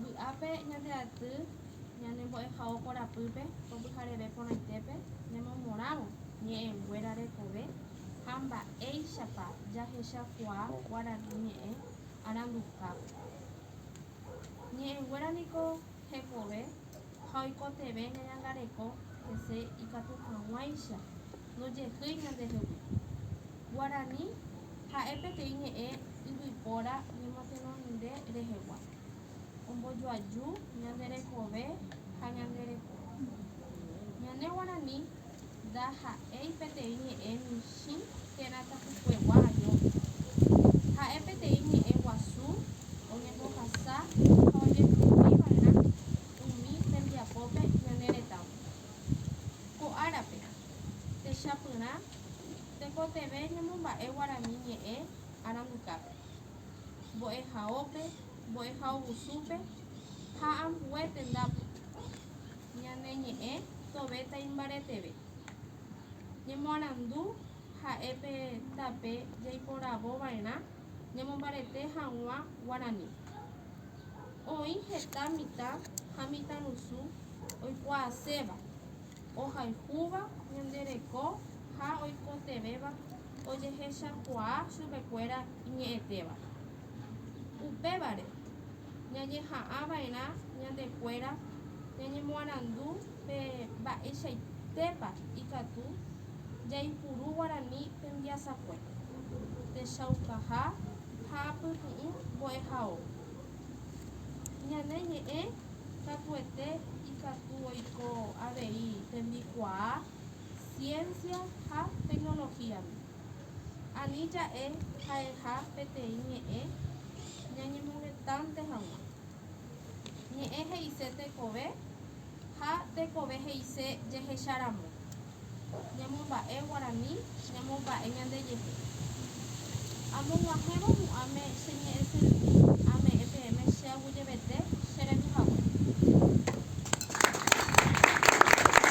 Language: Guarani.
Vy'ápe ñande aty ñane mbo'ehao korapýpe ko pyhareve porãitépe nemomorãvo ñe'ẽnguéra rekove ha mba'éichapa jahechakuaa guarani ñe'ẽ arandukápe. Ñe'ẽnguéra niko hekove ha oikotevẽ ñañangareko hese ikatu hag̃uáicha ndojehýi ñandehegui. Guarani ha'e peteĩ ñe'ẽ yvypóra ñemotenonde rehegua, ombojoaju ñande rekove ha ñande reko. Ñane guarani ndaha'éi peteĩ ñe'ẽ michĩ térã tapukuegua añópe. Ha'e peteĩ ñe'ẽ guasu oñembohasa ha ojepytĩ va'erã umi tembiapópe ñane retãme. Ko árape, techapyrã Tekotevẽ ñamomba'e guarani ñe'ẽ arandukápe, mbo'ehaópe, mbo'ehaovusúpe ha ambue tendápe. Ñane ñe'ẽ tove taimbareteve. Ñemoarandu ha'e pe tape jaiporavo va'erã ñamombarete haguã guarani. Oĩ heta mitã ha mitãrusu oikuaaséva. ohayhúva ñande reko ha oikotevẽva ojehechakuaa chupekuéra iñe'ẽtéva. Upévare, ñañeha'ãva'erã ñande kuéra ñañemoarandu pe mba'eichaitépa ikatu jaipuru guarani tembiasakue, techaukaha ha apytu'ũ mbo'ehaóva. Ñane ñe'ẽ katuete ikatu oiko avei tembikuaa ciencia ha tecnología-me. Ani ja'e ha'eha peteĩ ñe'ẽ ñañemovetãnte hag̃ua. Ñe'ẽ he'ise tekove ha tekove he'ise jehecharamo. ñamomba'e guarani ñamomba'e ñandejehe. Amog̃uahẽvo mu'ãme che ñe'ẽse rupi, ame'ẽ peẽme che aguyjevete che rendu hague.